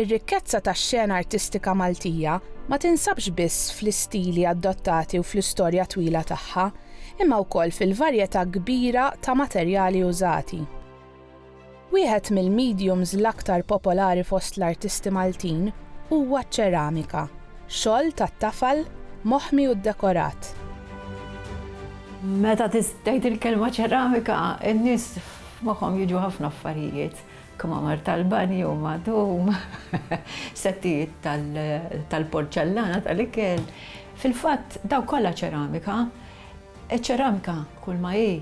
Ir-rikkezza tax-xena artistika Maltija ma tinsabx biss fl-istili adottati u fl-istorja twila tagħha, imma wkoll fil-varjetà kbira ta' materjali użati. Wieħed mill-mediums l-aktar popolari fost l-artisti Maltin huwa ċ-ċeramika, xogħol tat-tafal moħmi u ddekorat. Meta tgħid il-kelma ċeramika, in-nies F'moħħhom jiġu ħafna affarijiet, kmamar tal-banju magħtum, settijiet tal-porċellana tal-ikel. Fil-fatt, dawk kollha ċeramika. Iċ-ċeramika kulma hi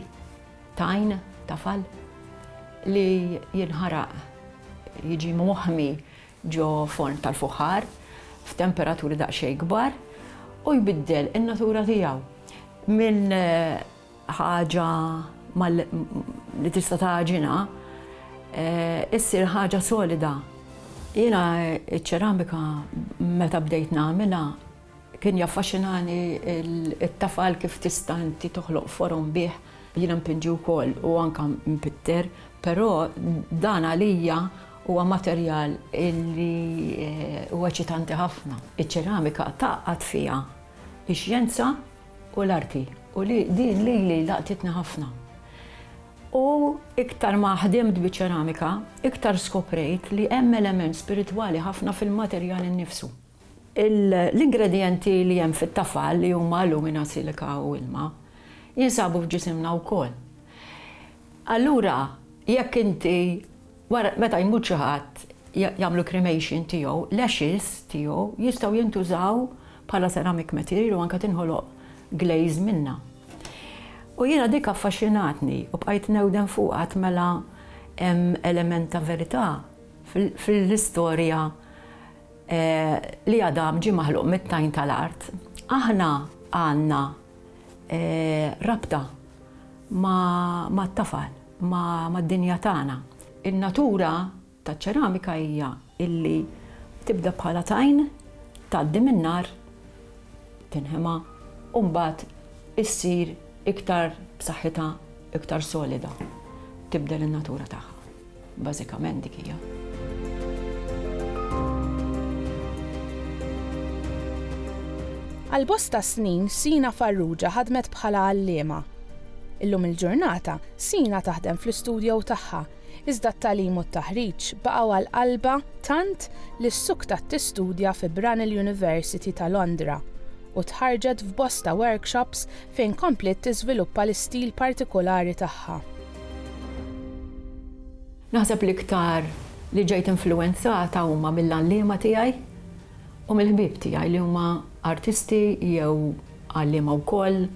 tajn, tafal, li jinħaraq, jiġi moħmi ġo forn tal-fuħħar f'temperaturi daqsxejn kbar u jbiddel in-natura tiegħu minn ħaġa li tista' tagħġinha issir ħaġa solida. Jiena ċ-ċeramika meta bdejt nagħmilha kien jaffaxxinani t-tafal kif tista' inti toħloq forom bih. Jiena mpinġi wkoll u anke mpitter, però dan għalija huwa materjal li huwa eċitanti ħafna. Iċ-ċeramika tgħaqqad fiha x-xjenza u l-arti u li din lili laqtitni ħafna u iktar ma ħdimt biċ-ċeramika iktar skoprejt li hemm element spiritwali ħafna fil-materjal innifsu. L-ingredjenti li hemm fit-tafal li huma alumina, silika u ilma jinsabu f'ġisimna wkoll. Allura jekk inti Wara, meta jmut xi ħadd, jagħmlu cremation tiegħu, l-ashes tiegħu jistgħu jintużaw bħala ceramic material u anke tinħoloq glaze minnha. U jiena dik affaxxinatni u bqajt newden fuqha għad mela hemm element ta' verità fl-istorja li Adam ġie maħluq mit-tajn tal-art. Aħna għandna rabta mat-tafal. mad-dinja tagħna. In-natura taċ-ċeramika hija illi tibda bħala tajn, tgħaddi min-nar, tinħema u mbagħad issir iktar b'saħħitha, iktar solida. Tibdel in-natura tagħha. Bażikament dik hija. Għal bosta snin Sina Farrugia ħadmet bħala għalliema. Illum il-ġurnata, Sina taħdem fl-istudjow tagħha, iżda t-tagħlim u t-taħriġ baqgħu għal qalbha tant li ssuktat tistudja fi Brunel University ta' Londra u tħarrġet f'bosta workshops fejn kompliet tiżviluppa l-istil partikulari tagħha. Naħseb l-iktar li ġejt influwenzata huma mill-għalliema tiegħi u mill-ħbieb tiegħi li huma artisti jew għalliema wkoll.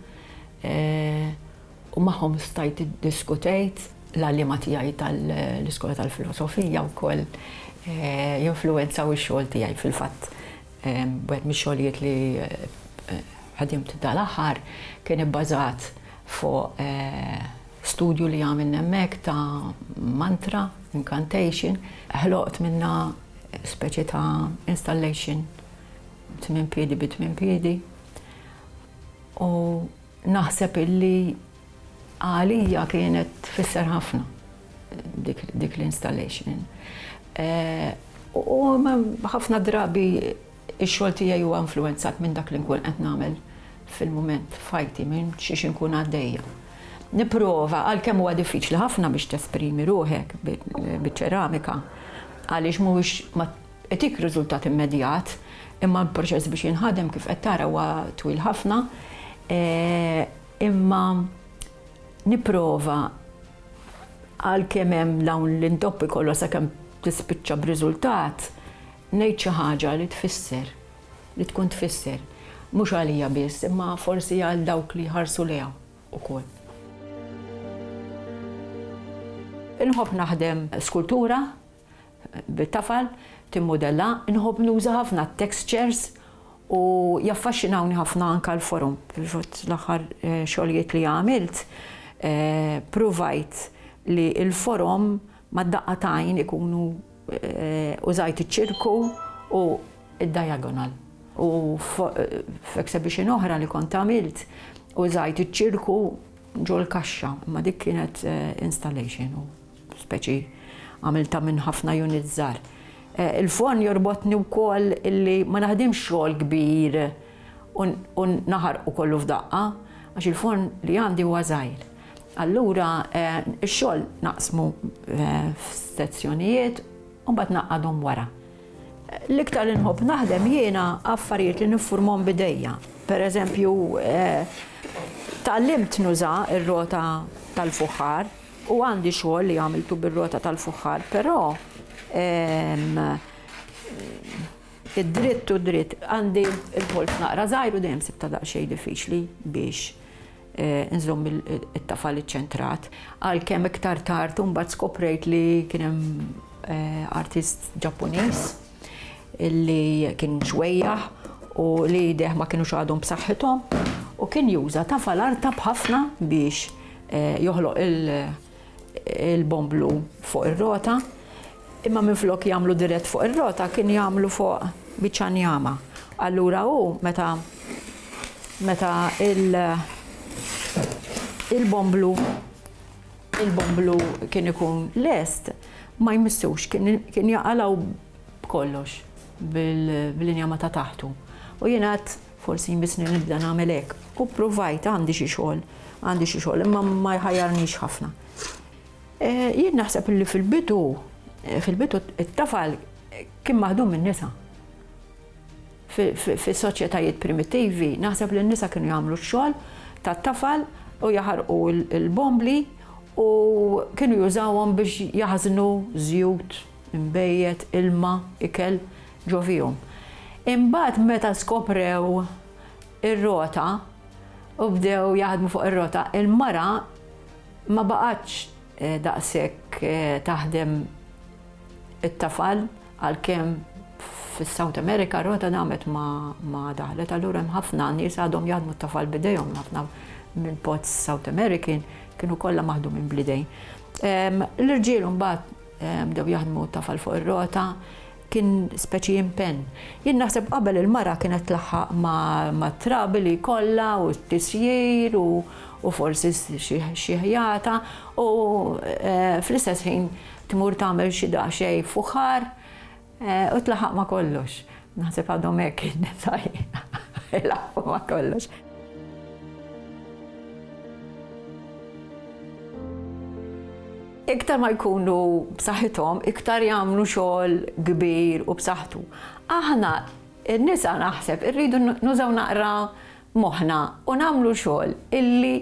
u magħhom stajt iddiskutejt l-għalliema tiegħi tal-Iskola tal-Filosofija wkoll jinfluwenzaw ix-xogħol tiegħi fil-fatt wieħed mix-xogħlijiet li ħadimt dal-aħħar kien ibbażat fuq studju li għamilna hemmhekk ta' mantra, incantation, ħloqt minnha speċi ta' installation tmien piedi bi tmien piedi. U naħseb illi għalija kienet tfisser ħafna dik l-installation. U ħafna drabi ix-xogħol tiegħi huwa influenzat minn dak li nkun qed nagħmel fil-mument f'ħajti minn xiex inkun għaddejja. Nipprova għalkemm huwa diffiċli ħafna biex tesprimi ruħek biċ-ċeramika għaliex mhuwiex Itik riżultat immedjat, imma l-proċess biex jinħadem kif qed tara huwa twil ħafna. Imma nipprova għalkemm hemm dawn l-intoppi kollha sakemm tispiċċa b'riżultat, ngħid xi ħaġa li tfisser, li tkun tfisser, mhux għalija biss, imma forsi għal dawk li jħarsu lejha wkoll. Inħobb naħdem skultura, bit-tafal, timmudella, inħobb nuża ħafna t-textures u jaffaxxinawni ħafna anke l-forom. L-aħħar xogħlijiet li għamilt pruvajt li l-forom mad-daqqa ta' għajn ikunu użajt iċ-ċirku u d-diagonal. U f'exhibition oħra li kont għamilt użajt iċ-ċirku ġol-kaxxa, imma dik kienet installation. speċi għamiltha minn ħafna units żgħar. Il-forn jorbotni wkoll illi ma naħdimx xogħol kbir u naħarqu kollu f'daqqa, għax il-forn li għandi huwa żgħir. Allura x-xogħol naqsmu f'sezzjonijiet u mbagħad naqgħadhom wara. L-iktar li nħobb naħdem jiena affarijiet li niffurmhom b'idejja. Pereżempju, tgħallimt nuża r-rota tal-fuħħar U għandi xogħol li għamiltu bir-rota tal-fuħħar, però id-dritt u dritt għandi il-polz naqra żgħir u dejjem sibta daqsxejn diffiċli biex Eh, nżomm it-tafal iċċentrat. Għalkemm iktar tard mbagħad skoprejt li kien hemm eh, artist Ġappuniż li kien xwejjaħ u li jdeh ma kienux għadhom b'saħħithom u kien juża ta' falarta b'ħafna biex eh, joħloq il-bomblu fuq ir-rota imma minflok jagħmlu dirett fuq ir-rota kien jagħmlu fuq biċċa njama. Allura hu meta meta il- il-bomblu il-bomblu kien ikun lest ma jmissux, kien jaqalaw b'kollox bil-injama ta' taħtu. U jien għad forsi jmissni nibda nagħmel hekk. U provajt għandi xi xogħol, għandi xi xogħol, imma ma jħajjarnix ħafna. Eh, jien naħseb li fil-bidu, eh, fil-bidu it-tafal kien maħdum minn nisa. Fis-soċjetajiet primittivi, naħseb li n-nisa kienu jagħmlu x-xogħol tat-tafal u jaħarqu l-bombli u kienu jużawhom biex jaħżnu żjut, inbejjed, ilma, ikel ġo fihom. Imbagħad meta skoprew ir-rota u bdew jaħdmu fuq ir-rota, il-mara ma baqgħetx Daqshekk taħdem it-tafal għalkemm fis-South America rota damet ma daħlet allura hemm ħafna nies għadhom jaħdmu t-tafal b'idejhom ħafna minn pots South American kienu kollha maħdu minn blidejn. L-irġiel mbagħad bdew jaħdmu tafal fuq ir-rota, Kien speċi impenn. Jien naħseb qabel il-mara kienet tlaħħaq mat-trabi li jkollha u t-tisjir u forsi xi ħjata u eh, fl-istess ħin tmur tagħmel xi daqsxejn fuħar eh, u tlaħaq ma' kollox. Naħseb għadhom hekk in-nisaj ilaħħu ma' kollox. Iktar ma jkunu b'saħħithom, iktar jagħmlu xogħol kbir u b'saħħtu. Aħna n-nisa naħseb irridu nużaw naqra moħħna u nagħmlu xogħol illi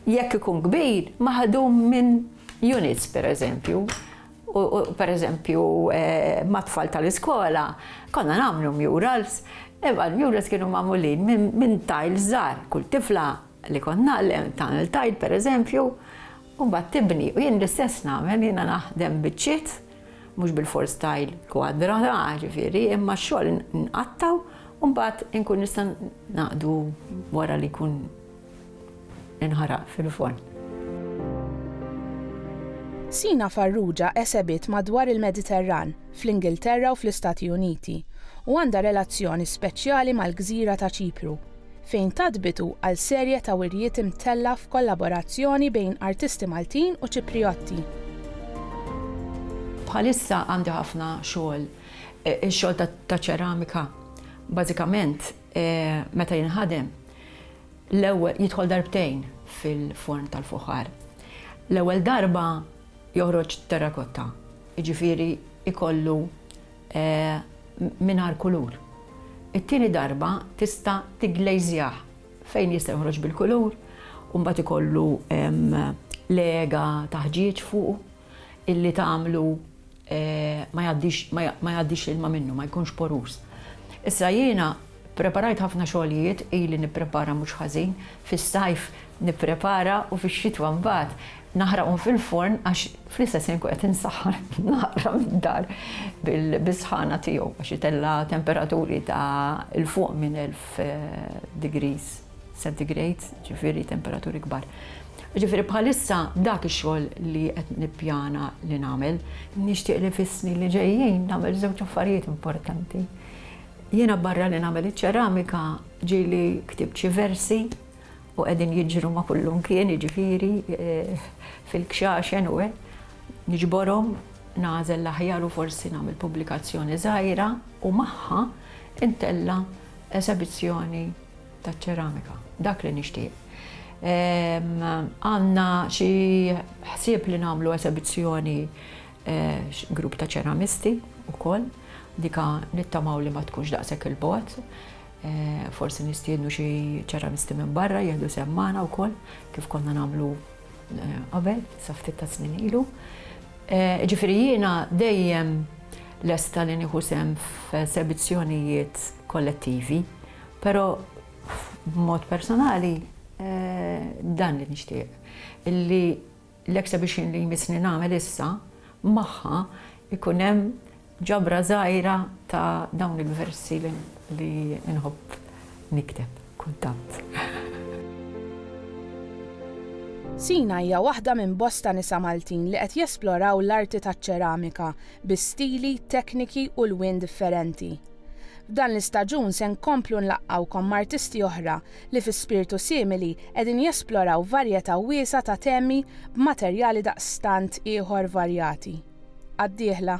jekk ikun kbir maħdum minn units pereżempju. Per eżempju, eh, mat-tfal tal-iskola, konna nagħmlu murals, imma l-murals kienu magħmulin minn tiles żgħar, kull tifla li kont naqlem, tagħmel tard pereżempju, u mbagħad tibni. U jien l-istess nagħmel, jiena naħdem biċċiet, mhux bilfors tile kwadra, la, ġifieri, imma x-xogħol nqatta' u mbagħad inkun nista' naqdu wara li jkun inħaraq fil-forn. Sina Farrugia esebiet madwar il-Mediterran, fl-Ingilterra u fl-Istati Uniti, u għandha relazzjoni speċjali mal-gżira ta' Ċipru. fejn tat bidu għal serje ta' wirjiet imtella' f'kollaborazzjoni bejn artisti Maltin u Ċipriotti. Bħalissa għandi ħafna xogħol, ix-xogħol ta' ċeramika. Bażikament meta jinħadem, l-ewwel jidħol darbtejn fil-forn tal-fuħar. L-ewwel darba joħroġ terrakotta, jiġifieri jkollu mingħajr kulur. It-tieni darba tista' tigglejżjah fejn jista' joħroġ bil-kulur u mbagħad ikollu lega ta' ħġieġ fuqu illi tagħmlu ma jgħaddix l-ilma minnu, ma jkunx porus. Issa jiena Ppreparajt ħafna xogħlijiet, ili nipprepara mhux ħażin, fis-sajf nipprepara u fix-xitwa mbagħad naħraqhom fil-forn għax fl-istess ħin nkun qed insaħħan naqra mid-dar bis-sħana tiegħu għax itella' temperaturi ta' 'l fuq minn 1000 degrees centigrade, ġifieri temperaturi kbar. Ġifieri bħalissa dak ix-xogħol li qed nippjana li nagħmel. Nixtieq li fis-snin li ġejjin nagħmel żewġ affarijiet importanti. Jiena barra li nagħmel iċ-ċeramika ġieli ktibt xi versi u qegħdin jiġru ma' kullimkien, jiġifieri fil-kxaxen u hekk. Niġborhom, nagħżel l-aħjar u forsi nagħmel pubblikazzjoni żgħira u magħha ntella' esebizzjoni taċ-ċeramika. Dak li nixtieq. Għandna xi ħsieb li nagħmlu esebizzjoni Grupp ta' ċeramisti wkoll, dika nittamaw li ma tkunx daqshekk il-bogħod. Forsi nistiednu xi ċeramisti minn barra jieħdu sehem magħna wkoll kif konna nagħmlu qabel sa ftit ta' snin ilu. Ġifieri jiena dejjem lesta li nieħu sehem f'esebizzjonijiet kollettivi, però b'mod personali dan li nixtieq, illi L-exhibition li jmissni nagħmel issa, magħha jkun hemm ġabra żgħira ta' dawn il-versi li nħobb nikteb kultant. Sina hija waħda minn bosta nisa Maltin li qed jesploraw l-arti taċ-ċeramika bi stili, tekniki u lwien differenti. F'dan l-istaġun se nkomplu nlaqqgħukom m'artisti oħra li fi spirtu simili qegħdin jesploraw varjetà wiesgħa ta' temi b'materjali daqstant ieħor varjati. Għad-dieħla.